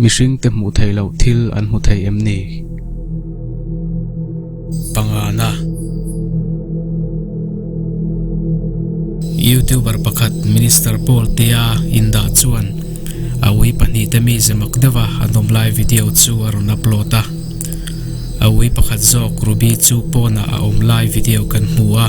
Mihring te hmuh theih loh thil an hmu thei em ni? Pangana. Youtuber pakhat Minister Paul Tia in dah chuan a ui pahnih te mi zemak deuh a an awm lai video chu a rawn upload a. A ui pakhat zawk Ruby chu pawnah a awm lai video kan hmu a.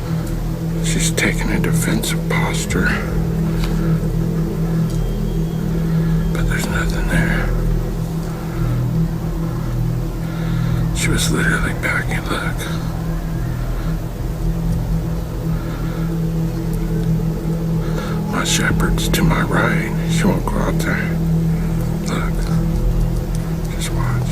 she's taking a defensive posture but there's nothing there she was literally packing look my shepherd's to my right she won't go out there look just watch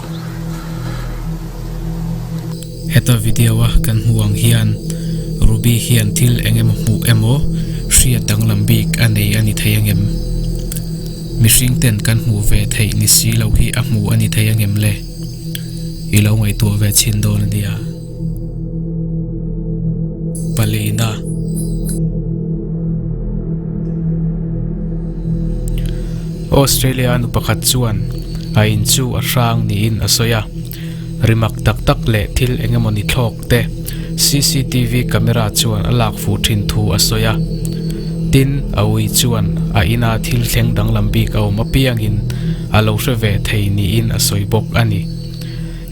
heta video a kan hmuh ang hian ruby hian thil eng emaw hmuh emaw hriat danglam bik a nei a ni thei angem mihring ten kan hmuh ve theih ni si lo hi a hmuh a ni thei angem le i lo ngaihtuah ve chhin dawn a nia. palina Australia nu pakhat chuan a in chu a hrang niin a sawi a rimak tak tak leh thil engemawni thlawk te cctv camera chuan a lak fuh thin thu a sawi a tin a ui chuan a in a thil thleng danglam bik a awm apiangin a lo hre ve thei niin a sawi bawk a ni.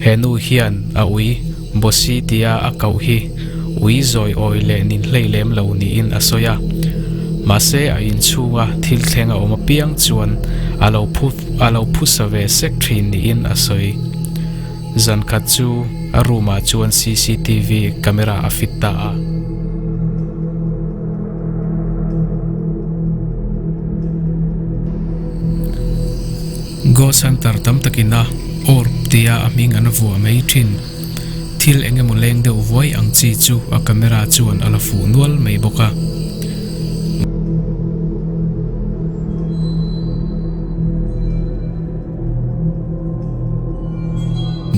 He nu hian a ui bossy tia a koh hi ui zawi awi leh nin hlei lem lo niin a sawi a. Mahse a inchhunga thil thleng a awm apiang chuan a lo phu a lo phusa ve sek thin niin a sawi. Zan khat chu a room ah chuan cctv camera a fit ta a. Goh Centre tam takin a awrp tia a hming an vuah mai thin. Thil eng emaw leng deuh vuai ang chi chu a camera chuan a la fuh nual mai bawk a.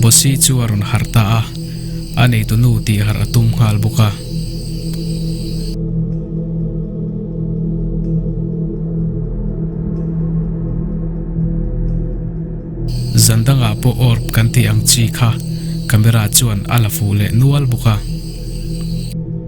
Bossy chu a rawn harh ta a. a neitunu tih harh a tum nghal bawk a. Zan dangah pawh awrp kan tih ang chi kha camera chuan a la fuh leh nual bawk a.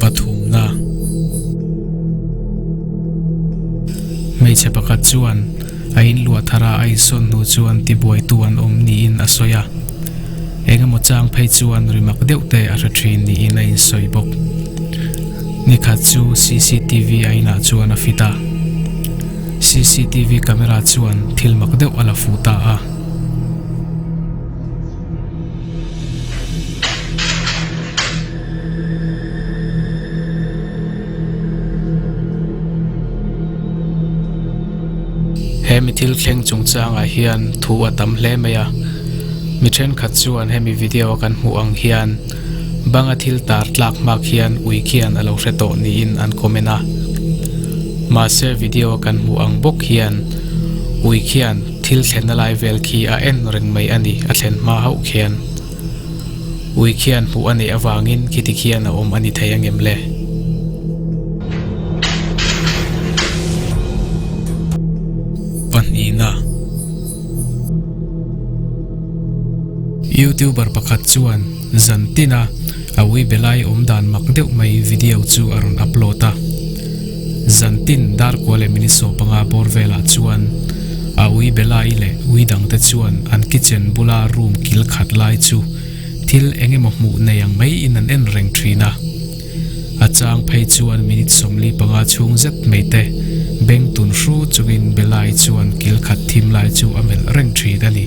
pathumna hmeichhe pakhat chuan a in luah thar a a insawn hnu chuan ti buaitu an awm niin a sawi a eng emaw chang phei chuan rimak deuh te a hre thin niin a insawi bawk ni khat chu cctv a inah chuan a fit a cctv camera chuan thil mak deuh a la fuh ta a. he mi thil thleng chung chang ah hian thu a tam hle mai a mi thenkhat chuan hemi video a kan hmuh ang hian banga thil tar tlak hmak hian ui khian a lo hre tawh niin an comment a mahse video a kan hmuh ang bawk hian ui khian-- thil thlenna lai vel khi a en reng mai a ni, a thlen hma hauh khian ui khian hmuh a neih avangin khiti khian a awm a ni thei angem le? Pahnihna. Youtuber pakhat chuan zan tina. Awi belai awm dan mak deuh mai video chu a rawn upload a. Zan tin Darkua leh Miniso panga bawr velah chuan Awi belai leh Ui dang te chuan an kitchen bula room kil khat lai chu thil eng emaw hmuh nei ang mai in an en reng thin a. A chang phei chuan minute sawmli panga chhung zet mai te beng tun hru chungin belai chuan kil khat thim lai chu a melh reng thin a ni.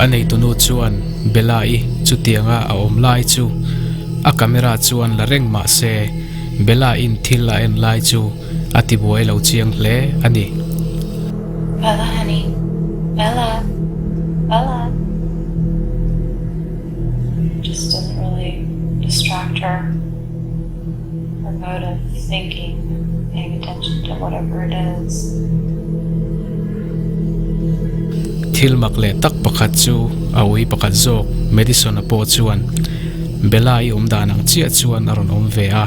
A neitunu chuan Bella-i chutianga a awm lai chu a camera chuan la reng mah se Bella-in thil a en lai chu a tibuai lo chiang hle a ni. Thil mak leh tak pakhat chu a ui pakhat zawk Madison-a pawh chuan Bella i awm dan ang chiah chuan a rawn awm ve a.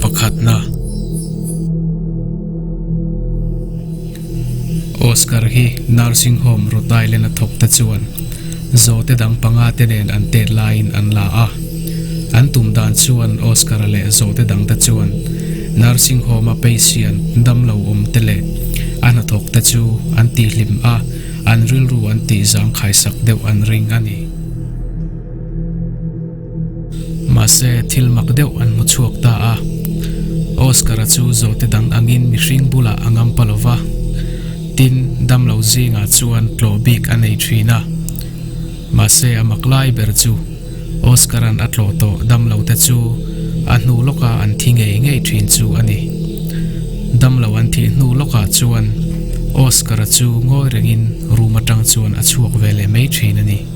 Pakhatna, Oscar hi nursing home Rhode Island a thawkte chuan zawte dang panga te nen an tet laiin an la a. An tum dan chuan Oscar leh zawte dangte chuan nursing home a patient damlo awmte leh a hnathawkte chu an tihhlim a, an rilru an tihzang khaisak deuh an ring a ni. Mahse, thil mak deuh an hmu chhuak ta a. Oscar-a chu zawhte dang angin mihring bulah a ngam pa lo va. Tin, damlo zingah chuan tlawh bik a nei thin a. Mahse, a mak lai ber chu Oscar-a'n a tlawh tawh damlote chu a hnu lawka an thi ngei ngei thin chu a ni. Damlo an thih hnu lawkah chuan Oscar-a chu ngawi rengin room atang chuan a chhuak ve leh mai thin a ni.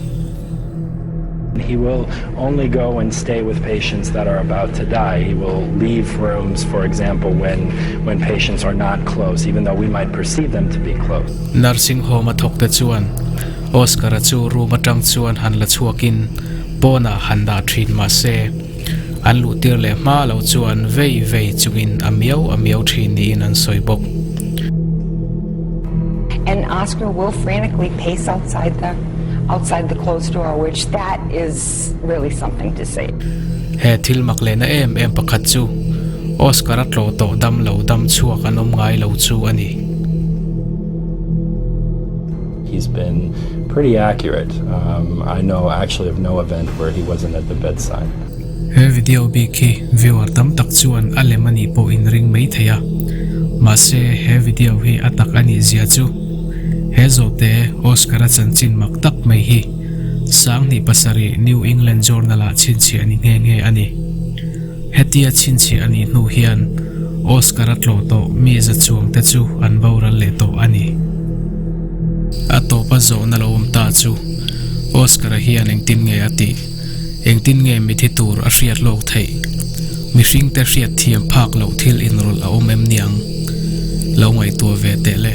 He will only go and stay with patients that are about to die. He will leave rooms, for example, when when patients are not close, even though we might perceive them to be close. Nursing home-a thawkte chuan Oscar-a chu room atang chuan han la chhuakin pawnah han dah thin mahse, An luh tir leh hma lo chuan vei vei chungin a miau a miau thin niin an sawi bawk. And Oscar will frantically pace outside the outside the closed door which that is really something to see. He thil mak lehna em em pakhat chu Oscar a tlaw tawh dam lo dam chhuak an awm ngai lo chu a ni. He's been pretty accurate, I know actually of no event where he wasn't at the bedside. He video bik hi viewer tam tak chuan a lem a nih pawh in ring mai thei a, mahse he video hi a tak a nih zia chu he zawhte Oscar a chanchin mak tak mai hi Sanghnih pasarih New England Journal-ah chhinchhiah ni nghe nghe a ni. Hetia chhinchhiah a nih hnu hian Oscar a tlawh tawh mi zachuang te chu an boral leh tawh a ni. A tawpa zawh na lo awm ta chu Oscar a hian engtin nge a tih? Engtin nge mithi tur a hriat hlawk theih? Mihring te hriat thiam phak loh thil inrawlh a awm em niang? Lo ngaihtuah ve teh le.